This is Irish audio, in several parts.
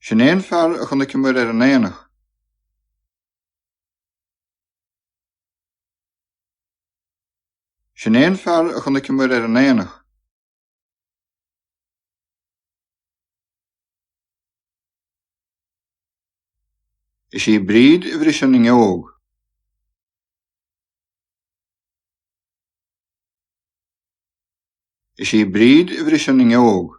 Sin é an fear a chonaiceamar ar an aonach. Sin é an fear a chonaiceamar ar an aonach. Is í Bríd a bhris an fhuinneog. Is í Bríd a bhris an fhuinneog.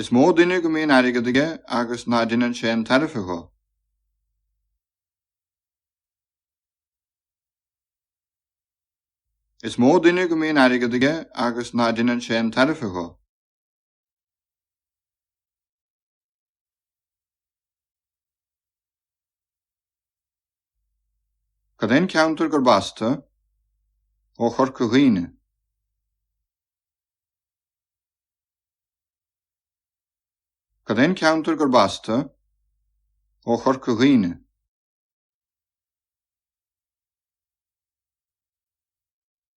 Is mó duine go mbíonn airgead aige agus ná deineann sé aon tairbhe dho. Is mó duine go mbíonn airgead aige agus ná deineann sé aon tairbhe dho. Cad é an ceantar gurb as tu? Ó Chorca Dhuibhne. Cad é an ceantar gurb as tu? Ó Chorca Dhuibhne.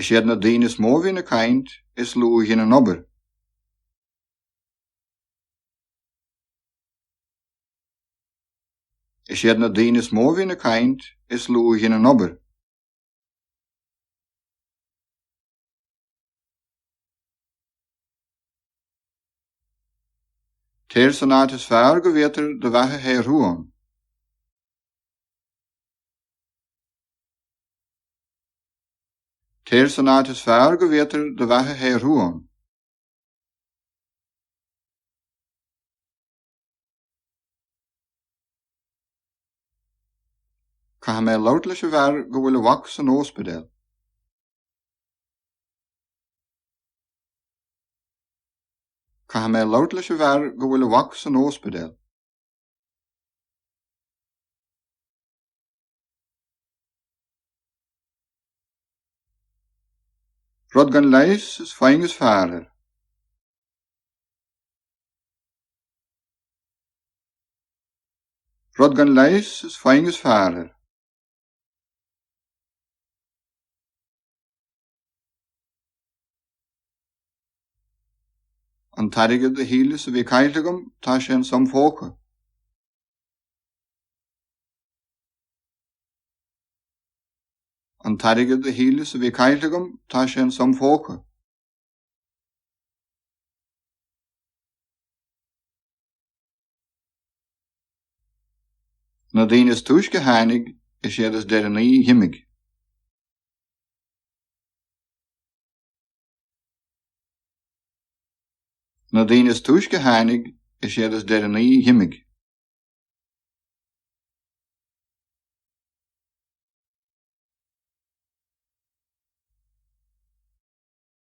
Is iad na daoine is mó a bhíonn ag caint is lú a dheineann obair. Is iad na daoine is mó a bhíonn ag caint is lú a dheineann obair. Téir san áit is fearr go bhféadfair do bheatha a shaothrú ann. Téir san áit is fearr go bhféadfair do bheatha a shaothrú ann. Caithfidh mé labhairt leis an bhfear go bhfuil a mhac san óspidéal. Caithfidh mé labhairt leis an bhfear go bhfuil a mhac san óspidéal. Rud gan leigheas, is foighne is fearr air. Rud gan leigheas, is foighne is fearr air. An t-airgead a shíleas a bhí caillte agam, tá sé in sam phóca. An t-airgead a shíleas a bhí caillte agam, tá sé in sam phóca. Na daoine is túisce a tháinig, is iad is deireanaí a dh'imigh. Na daoine is túisce a tháinig, is iad is deireanaí a dh'imigh.